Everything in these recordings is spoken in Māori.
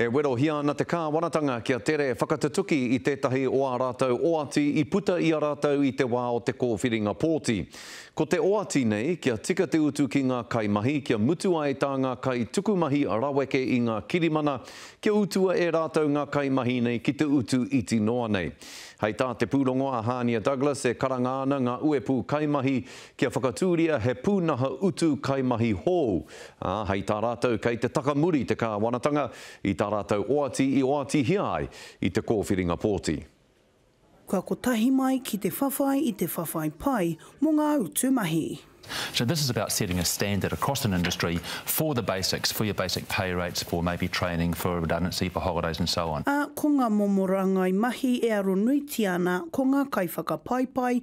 E werohia ana te Kāwanatanga kia tere whakatutuki i tētahi o ā rātou oati i puta i a rātou i te wā o te kōwhiringa pōti. Ko te oati nei, kia tika te utu ki ngā kaimahi kia mutu ai tā ngā kaitukumahi raweke i ngā kirimana, kia utua e rātou ngā kaimahi nei ki te utu iti noa nei. Hei tā te pūrongo a Hania Douglas e karanga ana ngā uepū kaimahi Kia whakatūria he pūnaha utu kaimahi hou, ā, hei tā rātou kei te taka muri te kāwanatanga i tā rātou oati i oatihia ai i te kōwhiringa pōti. Kua kotahi mai ki te whawhai i te whawhai pai mō ngā utu mahi. So this is about setting a standard across an industry for the basics, for your basic pay rates, for maybe training, for redundancy, for holidays and so on. Ā, ko ngā momo rāngai mahi e aro nuitia ana ko ngā kaiwhakapaipai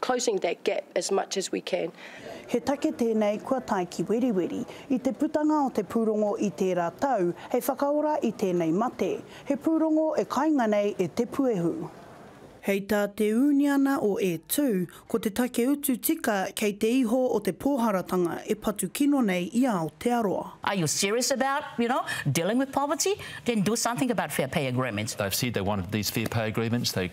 closing that gap as much as we can. He take tēnei kua tae ki Weriweri i te putanga o te pūrongo i tērā tau hei whakaora i tēnei mate. He pūrongo e kainga nei e Te Puehu. Hei tā te ūniana o E Tū, ko te take utu tika kei te iho o te pōharatanga e patu kino nei i Aotearoa. Are you serious about, you know, dealing with poverty? Then do something about fair pay agreements. They've said they wanted these fair pay agreements. They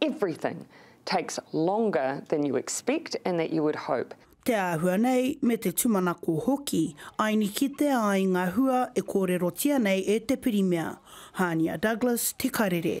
everything takes longer than you expect and that you would hope. Te āhua nei me te tumanako hoki, aini kitea ai nga hua e kōrerotia nei e te Pirimia. Hania Douglas, Te Karere.